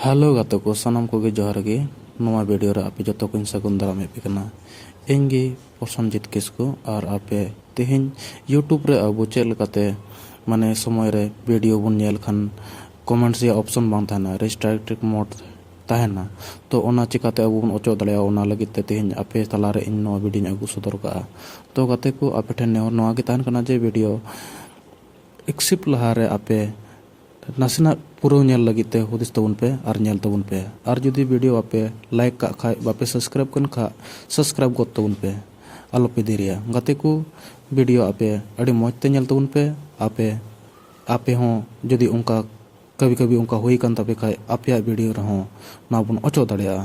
Hello ᱜᱟᱛᱮ ᱠᱚ ᱥᱟᱱᱟᱢ ᱠᱚᱜᱮ ᱡᱚᱦᱟᱨ ᱜᱮ ᱱᱚᱣᱟ ᱵᱷᱤᱰᱤᱭᱳ ᱨᱮ ᱟᱯᱮ ᱡᱚᱛᱚ ᱠᱚᱧ ᱥᱟᱹᱜᱩᱱ ᱫᱟᱨᱟᱢᱮᱫ ᱯᱮ ᱠᱟᱱᱟ ᱤᱧ ᱜᱮ ᱯᱨᱚᱥᱚᱱᱡᱤᱛ ᱠᱤᱥᱠᱩ ᱟᱨ ᱟᱯᱮ ᱛᱮᱦᱮᱧ ᱤᱭᱩᱴᱩᱵᱽ ᱨᱮ ᱟᱵᱚ ᱪᱮᱫ ᱞᱮᱠᱟᱛᱮ ᱢᱟᱱᱮ ᱥᱚᱢᱚᱭ ᱨᱮ ᱵᱷᱤᱰᱤᱭᱳ ᱵᱚᱱ ᱧᱮᱞ ᱠᱷᱟᱱ ᱠᱚᱢᱮᱱᱴᱥ ᱨᱮᱭᱟᱜ ᱚᱯᱥᱚᱱ ᱵᱟᱝ ᱛᱟᱦᱮᱱᱟ ᱨᱮᱥᱴᱨᱟᱠᱴᱤᱠ ᱢᱳᱰ ᱛᱟᱦᱮᱱᱟ ᱛᱚ ᱚᱱᱟ ᱪᱤᱠᱟᱛᱮ ᱟᱵᱚ ᱵᱚᱱ ᱚᱪᱚᱜ ᱫᱟᱲᱮᱭᱟᱜᱼᱟ ᱚᱱᱟ ᱞᱟᱹᱜᱤᱫ ᱛᱮ ᱛᱮᱦᱮᱧ ᱟᱯᱮ ᱛᱟᱞᱟᱨᱮ ᱤᱧ ᱱᱚᱣᱟ ᱵᱷᱤᱰᱤᱭᱳᱧ ᱟᱹᱜᱩ ᱥᱚᱫᱚᱨ ᱠᱟᱜᱼᱟ ᱛᱚ ᱜᱟᱛᱮ ᱠᱚ ᱟᱯᱮ ᱴᱷᱮᱱ ᱱᱮᱦᱚᱨ ᱱᱚᱣᱟ ᱜᱮ ᱛᱟᱦᱮᱱ ᱠᱟᱱᱟ ᱡᱮ ᱵᱷᱤᱰᱤᱭᱳ ᱮᱠᱥᱤᱯ ᱞᱟᱦᱟ ᱨᱮ ᱟᱯᱮ ᱱᱟᱥᱮᱱᱟᱜ ᱯᱩᱨᱟᱹᱣ ᱧᱮᱞ ᱞᱟᱹᱜᱤᱫ ᱛᱮ ᱦᱩᱫᱤᱥ ᱛᱟᱵᱚᱱ ᱯᱮ ᱟᱨ ᱧᱮᱞ ᱛᱟᱵᱚᱱ ᱯᱮ ᱟᱨ ᱡᱩᱫᱤ ᱵᱷᱤᱰᱤᱭᱳ ᱟᱯᱮ ᱞᱟᱭᱤᱠ ᱠᱟᱜ ᱠᱷᱟᱡ ᱵᱟᱯᱮ ᱥᱟᱵᱥᱠᱨᱟᱭᱤᱵ ᱠᱟᱱ ᱠᱷᱟᱡ ᱥᱟᱵᱥᱠᱨᱟᱭᱤᱵ ᱜᱚᱫ ᱛᱟᱵᱚᱱ ᱯᱮ ᱟᱞᱚ ᱯᱮ ᱫᱮᱨᱤᱭᱟ ᱜᱟᱛᱮ ᱠᱚ ᱵᱷᱤᱰᱤᱭᱳ ᱟᱯᱮ ᱟᱹᱰᱤ ᱢᱚᱡᱽ ᱛᱮ ᱧᱮᱞ ᱛᱟᱵᱚᱱ ᱯᱮ ᱟᱯᱮ ᱟᱯᱮ ᱦᱚᱸ ᱡᱩᱫᱤ ᱚᱱᱠᱟ ᱠᱟᱵᱷᱤ ᱠᱟᱵᱷᱤ ᱚᱱᱠᱟ ᱦᱩᱭ ᱠᱟᱱ ᱛᱟᱯᱮ ᱠᱷᱟᱡ ᱟᱯᱮᱭᱟᱜ ᱵᱷᱤᱰᱤᱭᱳ ᱨᱮᱦᱚᱸ ᱱᱚᱣᱟ ᱵᱚᱱ ᱚᱪᱚᱜ ᱫᱟᱲᱮᱭᱟᱜᱼᱟ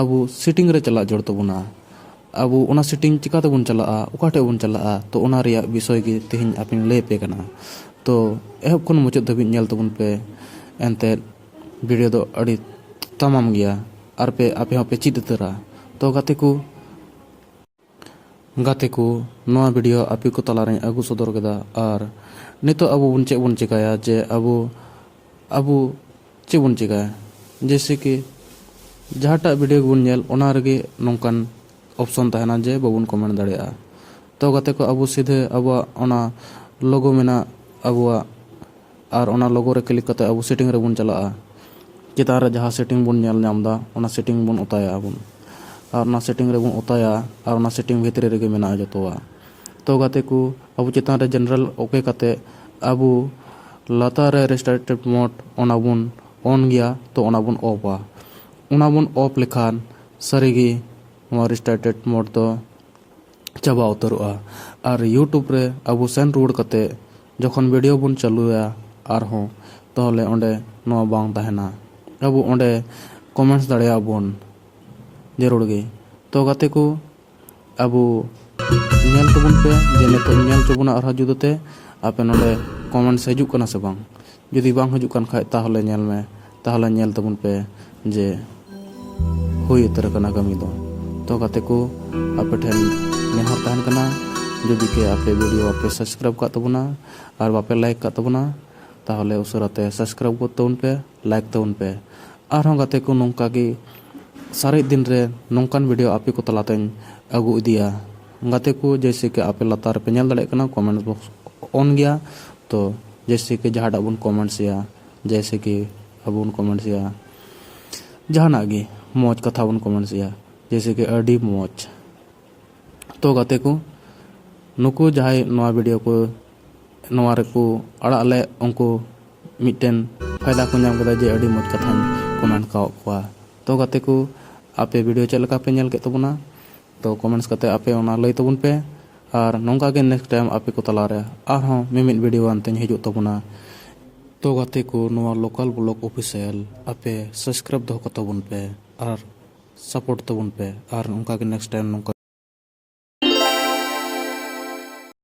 ᱟᱵᱚ ᱥᱤᱴᱤᱝ ᱨᱮ ᱪᱟᱞᱟᱜ ᱡᱚᱲ ᱛᱟᱵᱚᱱᱟ ᱟᱵᱚ ᱚᱱᱟ ᱥᱤᱴᱤᱝ ᱪᱤᱠᱟ ᱛᱮᱵᱚᱱ ᱪᱟᱞᱟᱜᱼᱟ ᱚᱠᱟ ᱴᱷᱮᱡ ᱵᱚᱱ ᱪᱟᱞᱟᱜᱼᱟ ᱛᱚ ᱚᱱᱟ ᱨᱮᱭᱟᱜ ᱵᱤᱥᱚᱭ ᱜᱮ ᱛᱮᱦᱮᱧ ᱟᱯᱮᱧ ᱞᱟᱹᱭ ᱟᱯᱮ ᱠᱟᱱᱟ ᱛᱚ ᱮᱦᱚᱵ ᱠᱷᱚᱱ ᱢᱩᱪᱟᱹᱫ ᱫᱷᱟᱹᱵᱤᱡ ᱧᱮᱞ ᱛᱟᱵᱚᱱ ᱯᱮ ᱮᱱᱛᱮᱫ ᱵᱷᱤᱰᱭᱳ ᱫᱚ ᱟᱹᱰᱤ ᱛᱟᱢᱟᱢ ᱜᱮᱭᱟ ᱟᱨ ᱯᱮ ᱟᱯᱮ ᱦᱚᱸᱯᱮ ᱪᱮᱫ ᱩᱛᱟᱹᱨᱟ ᱛᱚ ᱜᱟᱛᱮ ᱠᱚ ᱜᱟᱛᱮ ᱠᱚ, ᱱᱚᱣᱟ ᱵᱷᱤᱰᱤᱭᱳ ᱟᱯᱮ ᱠᱚ ᱛᱟᱞᱟ ᱨᱮᱧ ᱟᱹᱜᱩ ᱥᱚᱫᱚᱨ ᱠᱮᱫᱟ ᱟᱨ ᱱᱤᱛᱚᱜ ᱟᱵᱚ ᱵᱚᱱ ᱪᱮᱫ ᱵᱚᱱ ᱪᱮᱠᱟᱭᱟ ᱡᱮ ᱟᱵᱚ ᱟᱵᱚ ᱪᱮᱫ ᱵᱚᱱ ᱪᱮᱠᱟᱭᱟ ᱡᱮᱭᱥᱮ ᱠᱤ ᱡᱟᱦᱟᱸᱴᱟᱜ ᱵᱷᱤᱰᱤᱭᱳ ᱜᱮᱵᱚᱱ ᱧᱮᱞ ᱚᱱᱟ ᱨᱮᱜᱮ ᱱᱚᱝᱠᱟᱱ ᱚᱯᱥᱚᱱ ᱛᱟᱦᱮᱱᱟ ᱡᱮ ᱵᱟᱵᱚᱱ ᱠᱚᱢᱮᱱᱴ ᱫᱟᱲᱮᱭᱟᱜᱼᱟ ᱛᱚ ᱜᱟᱛᱮ ᱠᱚ ᱟᱵᱚ ᱥᱤᱫᱷᱟᱹ ᱟᱵᱚᱣᱟᱜ ᱚᱱᱟ ᱞᱳᱜᱳ ᱢᱮᱱᱟᱜ ᱟᱵᱚᱣᱟᱜ ᱟᱨ ᱚᱱᱟ ᱞᱳᱜᱳ ᱨᱮ ᱠᱞᱤᱠ ᱠᱟᱛᱮ ᱟᱵᱚ ᱥᱮᱴᱤᱝ ᱨᱮᱵᱚᱱ ᱪᱟᱞᱟᱜᱼᱟ᱾ ᱪᱮᱛᱟᱱ ᱨᱮ ᱡᱟᱦᱟᱸ ᱥᱮᱴᱤᱝ ᱵᱚᱱ ᱧᱮᱞ ᱧᱟᱢ ᱮᱫᱟ ᱚᱱᱟ ᱥᱮᱴᱤᱝ ᱵᱚᱱ ᱚᱛᱟᱭᱟ ᱟᱵᱚᱱ᱾ ᱟᱨ ᱚᱱᱟ ᱥᱮᱴᱤᱝ ᱨᱮᱵᱚᱱ ᱚᱛᱟᱭᱟ ᱟᱨ ᱚᱱᱟ ᱥᱮᱴᱤᱝ ᱵᱷᱤᱛᱨᱤ ᱨᱮᱜᱮ ᱢᱮᱱᱟᱜᱼᱟ ᱡᱚᱛᱚᱣᱟᱜ᱾ ᱛᱚ ᱜᱟᱛᱮ ᱠᱚ ᱟᱵᱚ ᱪᱮᱛᱟᱱ ᱨᱮ ᱡᱮᱱᱟᱨᱮᱞ ᱳᱠᱮ ᱠᱟᱛᱮ ᱟᱵᱚ ᱞᱟᱛᱟᱨ ᱨᱮ ᱨᱮᱥᱴᱟᱨᱴᱮᱰ ᱢᱳᱰ ᱚᱱᱟ ᱵᱚᱱ ᱚᱱ ᱜᱮᱭᱟ ᱛᱚ ᱚᱱᱟ ᱵᱚᱱ ᱚᱯᱷᱼᱟ᱾ ᱚᱱᱟ ᱵᱚᱱ ᱚᱯᱷ ᱞᱮᱠᱷᱟᱱ ᱥᱟᱹᱨᱤ ᱜᱮ ᱱᱚᱣᱟ ᱨᱮᱥᱴᱟᱨᱴᱮᱰ ᱢᱳᱰ ᱫᱚ ᱪᱟᱵᱟ ᱩᱛᱟᱹᱨᱚᱜᱼᱟ ᱟᱨ ᱤᱭᱩᱴᱩᱵᱽ ᱨᱮ ᱟᱵᱚ ᱥᱮᱱ ᱨᱩᱣᱟᱹᱲ ᱠᱟᱛᱮ ᱡᱚᱠᱷᱚᱱ ᱵᱷᱤᱰᱤᱭᱳ ᱵᱚᱱ ᱪᱟᱹᱞᱩᱭᱟ ᱟᱨᱦᱚᱸ ᱛᱟᱦᱚᱞᱮ ᱚᱸᱰᱮ ᱱᱚᱣᱟ ᱵᱟᱝ ᱛᱟᱦᱮᱱᱟ ᱟᱵᱚ ᱚᱸᱰᱮ ᱠᱚᱢᱮᱱᱴᱥ ᱫᱟᱲᱮᱭᱟᱜ ᱟᱵᱚᱱ ᱡᱟᱹᱨᱩᱲ ᱜᱮ ᱛᱚ ᱜᱟᱛᱮ ᱠᱚ ᱟᱵᱚ ᱧᱮᱞ ᱛᱟᱵᱚᱱ ᱯᱮ ᱡᱮ ᱱᱤᱛᱚᱜ ᱧᱮᱞ ᱦᱚᱪᱚ ᱵᱚᱱᱟ ᱟᱨᱦᱚᱸ ᱡᱩᱫᱟᱹᱛᱮ ᱟᱯᱮ ᱱᱚᱸᱰᱮ ᱠᱚᱢᱮᱱᱴᱥ ᱦᱤᱡᱩᱜ ᱠᱟᱱᱟ ᱥᱮ ᱵᱟᱝ ᱡᱩᱫᱤ ᱵᱟᱝ ᱦᱤᱡᱩᱜ ᱠᱟᱱ ᱠᱷᱟᱡ ᱛᱟᱦᱚᱞᱮ ᱧᱮᱞ ᱢᱮ ᱛᱟᱦᱚᱞᱮ ᱧᱮᱞ ᱛᱟᱵᱚᱱ ᱯᱮ ᱡᱮ ᱦᱩᱭ ᱩᱛᱟᱹᱨ ᱟᱠᱟᱱᱟ ᱠᱟᱹᱢᱤ ᱫᱚ ᱛᱚ ᱜᱟᱛᱮ ᱠᱚ ᱟᱯᱮ ᱴᱷᱮᱱ ᱱᱮᱦᱚᱨ ᱛᱟᱦᱮᱱ ᱠᱟᱱᱟ ᱡᱩᱫᱤ ᱠᱮ ᱟᱯᱮ ᱵᱷᱤᱰᱤᱭᱳ ᱵᱟᱯᱮ ᱥᱟᱵᱥᱠᱨᱟᱭᱤᱵ ᱠᱟᱜ ᱛᱟᱵᱚᱱᱟ ᱟᱨ ᱵᱟᱯᱮ ᱞᱟᱭᱤᱠ ᱠᱟᱜ ᱛᱟᱵᱚᱱᱟ ᱛᱟᱦᱚᱞᱮ ᱩᱥᱟᱹᱨᱟ ᱛᱮ ᱥᱟᱵᱥᱠᱨᱟᱭᱤᱵ ᱜᱚᱫ ᱛᱟᱵᱚᱱ ᱯᱮ ᱞᱟᱭᱤᱠ ᱛᱟᱵᱚᱱ ᱯᱮ ᱟᱨᱦᱚᱸ ᱜᱟᱛᱮ ᱠᱚ ᱱᱚᱝᱠᱟ ᱜᱮ ᱥᱟᱨᱮᱡ ᱫᱤᱱ ᱨᱮ ᱱᱚᱝᱠᱟᱱ ᱵᱷᱤᱰᱤᱭᱳ ᱟᱯᱮ ᱠᱚ ᱛᱟᱞᱟᱛᱮᱧ ᱟᱹᱜᱩ ᱤᱫᱤᱭᱟ ᱜᱟᱛᱮ ᱠᱚ ᱡᱮᱭᱥᱮ ᱠᱤ ᱟᱯᱮ ᱞᱟᱛᱟᱨ ᱨᱮᱯᱮ ᱧᱮᱞ ᱫᱟᱲᱮᱭᱟᱜ ᱠᱟᱱᱟ ᱠᱚᱢᱮᱱᱴ ᱵᱚᱠᱥ ᱚᱱ ᱜᱮᱭᱟ ᱛᱚ ᱡᱮᱭᱥᱮ ᱠᱤ ᱡᱟᱦᱟᱸᱴᱟᱜ ᱵᱚᱱ ᱠᱚᱢᱮᱱᱴ ᱥᱮᱭᱟ ᱡᱮᱭᱥᱮ ᱠᱤ ᱟᱵᱚ ᱵᱚᱱ ᱠᱚᱢᱮᱱᱴ ᱥᱮᱭᱟ ᱡᱟᱦᱟᱱᱟᱜ ᱜᱮ ᱢᱚᱡᱽ ᱠᱟᱛᱷᱟ ᱵᱚᱱ ᱠᱚᱢᱮᱱᱴ ᱥᱮᱭᱟ ᱡᱮᱭᱥᱮ ᱠᱤ ᱟᱹᱰᱤ ᱢᱚᱡᱽ ᱛᱚ ᱜᱟᱛᱮ ᱠᱚ ᱱᱩᱠᱩ ᱡᱟᱦᱟᱸᱭ ᱱᱚᱣᱟ ᱵᱷᱤᱰᱤᱭᱳ ᱠᱚ ᱱᱚᱣᱟ ᱨᱮᱠᱚ ᱟᱲᱟᱜ ᱞᱮᱫ ᱩᱱᱠᱩ ᱢᱤᱫᱴᱮᱱ ᱯᱷᱟᱭᱫᱟ ᱠᱚ ᱧᱟᱢ ᱠᱮᱫᱟ ᱡᱮ ᱟᱹᱰᱤ ᱢᱚᱡᱽ ᱠᱟᱛᱷᱟᱧ ᱠᱚᱢᱮᱱᱴ ᱠᱟᱜ ᱠᱚᱣᱟ ᱛᱚ ᱜᱟᱛᱮ ᱠᱚ ᱟᱯᱮ ᱵᱷᱤᱰᱤᱭᱳ ᱪᱮᱫ ᱞᱮᱠᱟ ᱯᱮ ᱧᱮᱞ ᱠᱮᱫ ᱛᱟᱵᱚᱱᱟ ᱛᱚ ᱠᱚᱢᱮᱱᱴᱥ ᱠᱟᱛᱮ ᱟᱯᱮ ᱚᱱᱟ ᱞᱟᱹᱭ ᱛᱟᱵᱚᱱ ᱯᱮ ᱟᱨ ᱱᱚᱝᱠᱟ ᱜᱮ ᱱᱮᱠᱥᱴ ᱴᱟᱭᱤᱢ ᱟᱯᱮ ᱠᱚ ᱛᱟᱞᱟ ᱨᱮ ᱟᱨᱦᱚᱸ ᱢᱤᱢᱤᱫ ᱵᱷᱤᱰᱤᱭᱳ ᱟᱱᱛᱮᱧ ᱦᱤᱡᱩᱜ ᱛᱟᱵᱚᱱᱟ᱾ ᱛᱚ ᱜᱟᱛᱮ ᱠᱚ ᱱᱚᱣᱟ ᱞᱳᱠᱟᱞ ᱵᱞᱚᱜᱽ ᱚᱯᱷᱤᱥᱤᱭᱟᱞ ᱟᱯᱮ ᱥᱟᱵᱥᱠᱨᱟᱭᱤᱵᱽ ᱫᱚᱦᱚ ᱠᱟᱛᱟ ᱵᱚᱱ ᱯᱮ ᱟᱨ ᱥᱟᱯᱳᱨᱴ ᱛᱟᱵᱚᱱ ᱯᱮ ᱟᱨ ᱚᱱᱠᱟ ᱜᱮ ᱱᱮᱠᱥᱴ ᱴᱟᱭᱤᱢ ᱱᱚᱝᱠᱟ᱾